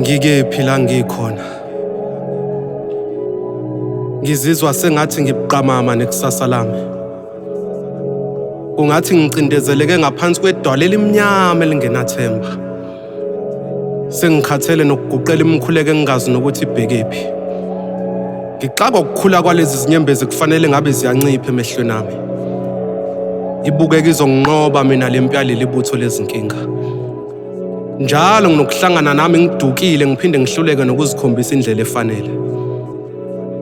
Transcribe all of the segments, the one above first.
Ngikephi la ngikhona? Ngizizwa sengathi ngibuqamama nekusasa lami. Kungathi ngicindezeleke ngaphansi kwedwala elimnyama elingenathemba. Sengikhathele nokuguqela imikhuleko engingazi nokuthi ibhekephi. Ngixaka ukukhula kwalezi zinyembezi kufanele ngabe ziyancipha emehlweni ami. Ibukeka izonginqoba mina le mpi yaleli butho lezinkinga. Njalo nginokuhlangana nami ngidukile ngiphinde ngihluleke nokuzikhombisa indlela efanele.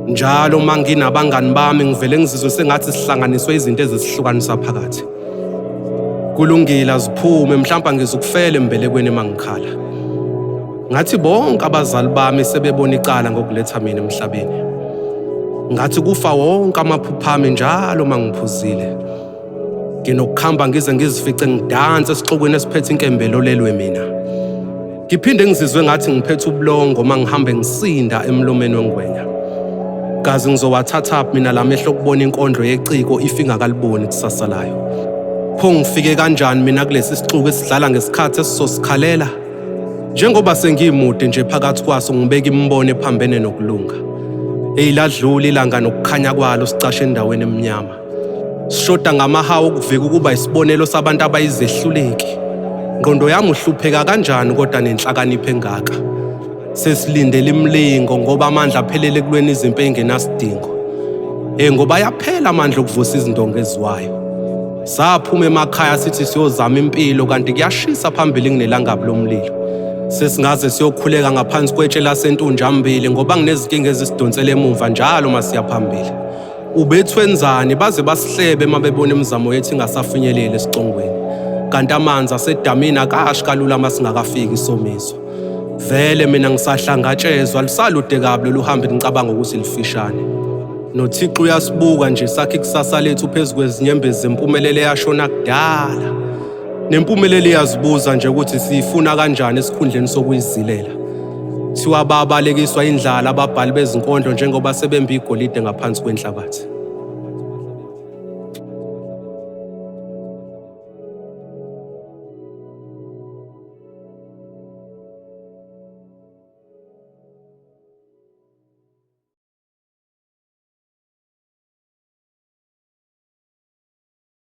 Njalo uma nginabangani bami ngivele ngizizwe sengathi sihlanganiswe izinto ezisihlukanisa phakathi. kulungile aziphume mhlawumbe angizukufela embelekweni mangikhala ngathi bonke abazali bami sebebona icala ngokuletha mina emhlabeni ngathi kufa wonke amaphupha ami njalo mangiphuzile nginokukhamba ngize ngizifice ngidanse esixokweni esiphethe inkembelo lelwe mina Ngiphinde ngizizwe ngathi ngiphethe ubulongo uma ngihambe ngisinda emlomeni wengwenya. Kazi ngizowathatha mina la mehlo okubona inkondlo yeciko ifinga kaliboni kusasa layo. Pho ngifike kanjani mina kulesi sixuku esidlala ngesikhathi esizosikhalela? Njengoba sengiyimude nje phakathi kwaso ngibeka imibono ephambene nokulunga. Eyiladlula ilanga nokukhanya kwalo sicashe endaweni emnyama. Sishoda ngamahawu okuvika ukuba isibonelo sabantu abayizehluleki. Ngqondo yami uhlupheka kanjani kodwa nenhlakanipho engaka. Sesilindele imlingo ngoba amandla aphelele ekulweni izimpi engenasidingo. Eh ngoba yaphela amandla okuvusa izindonga eziwayo. Saphuma emakhaya sithi siyozama impilo kanti kuyashisa phambili nginelangabi lomlilo. Sesingaze siyokhuleka ngaphansi kwetshe lasentunjambili ngoba nginezinkinga ezisidonsela emuva njalo masiya phambili. Ubethwenzani baze basihlebe uma bebona imizamo yethu ingasafinyeleli esicongweni. Kanti amanzi asedamini akashi kalula uma singakafiki isomiso. Vele mina ngisahlangatshezwa lusalude kabi lolu hambe ngicabanga ukuthi lifishane. NoThixo uyasibuka nje sakhe ikusasa lethu phezu kwezinyembezi zempumelelo eyashona kudala. Nempumelelo iyazibuza nje ukuthi siyifuna kanjani esikhundleni sokuyizilela. Kuthiwa babalekiswa indlala ababhali bezinkondlo njengoba sebembe igolide ngaphansi kwenhlabathi.